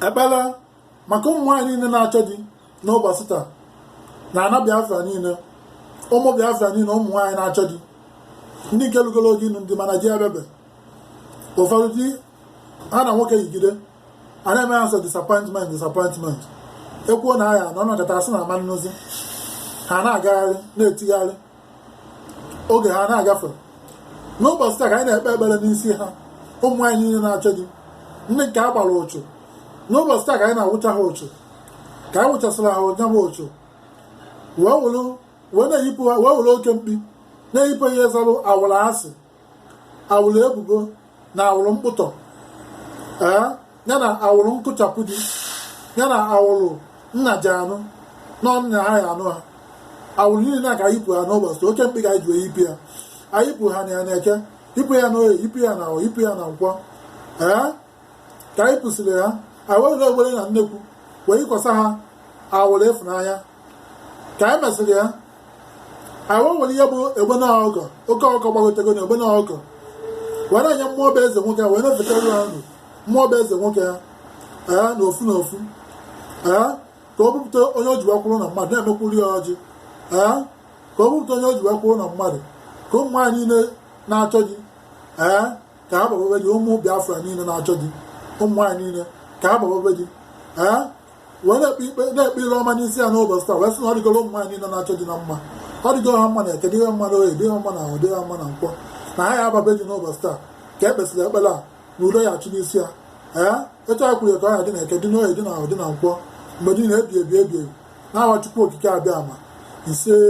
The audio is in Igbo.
ekpere maka ụmụ nwaanyị niile na-achọ di n'ụbọchị taa na ana biafra niile ụmụ biafra niile ụmụ nwaanyị na-achọ di ndị nke lugoro oge ịnụ di mana di abịabe ụfọdụ dị ha na nwoke yigide a na-eme ha sọ disappointment disappointment ekwuo na a ya-anụ a nọkata asị na a ma-anụzi ha na-agagharị na-etigharị oge ha na-agafe n'ụbọchị taa ka anyị na-ekpe ekpere n'isi ha ụmụ nwaanyị niile na-achọ di ndị nke a gbara ụchụ n'ụbọchị taa ka anyị na-awụcha ha ụchụ ka anyị wụchasịrị ha nya bụ ụchụ wee were oke mkpi na-eyipụ ihe zalụ awụrụ asị awụrụ ebubo na awụrụ mkpụtọ ee ya na awụrụ nkụchapụ di ya na awụrụ nnaji anụ n'ọnna ahịa anụ ha awụrụ niile a ka yipụ ha n'ụbọchị oke mkpi ka anyị ji wee yipụ ya ayipụ ha na ya na eke yipụ ya na oye yipụ ya na afọ yipụ ya na nkwọ ee ka anyị yipụsịrị ha anyị werere egbene na nnekwu wee yikwasa ha awụrụ ịfụnanya ka anyị mesịrị ya anyị wee were ihe bụ egbene ọgọ oke ọkọ gbagotego na egbene ọgọ wee na-enye mmụọ bụ eze nwoke ya wee na-efetara ha mmụọ bụ eze nwoke ya ee na ofu na ofu ee ka o bupụta onye o ji wee kwụrụ na mmadụ na-emekwuru ya ọjị ee ka o bupụta onye o ji wee kwụrụ na mmadụ ka ụmụ nwaanyị niile na-achọ di ee ka ha gbababe di ụmụ Biafra niile na-achọ di ụmụ nwaanyị niile ka ha gbababe di ee wee na-ekpe ikpe na-ekpe ile ọma n'isi ya n'ụbọchị taa wee sị na ọ dịgoro ụmụ nwaanyị niile na-achọ di na mma ọ dịgoro ha mma na eke dị ha mma na oye dị ha mma na afọ dị ha mma na nkwọ na ha ya-ababe di n'ụbọchị taa ka e kpesịrị ekpere a na udo ya-achị n'isi ya ee etu a kwuru ya ka ọ ya dị na eke dị n'oye dị na afọ dị na nkwọ mgbe niile ebi ebi ebi ebi n'aha Chukwu okike abịama isee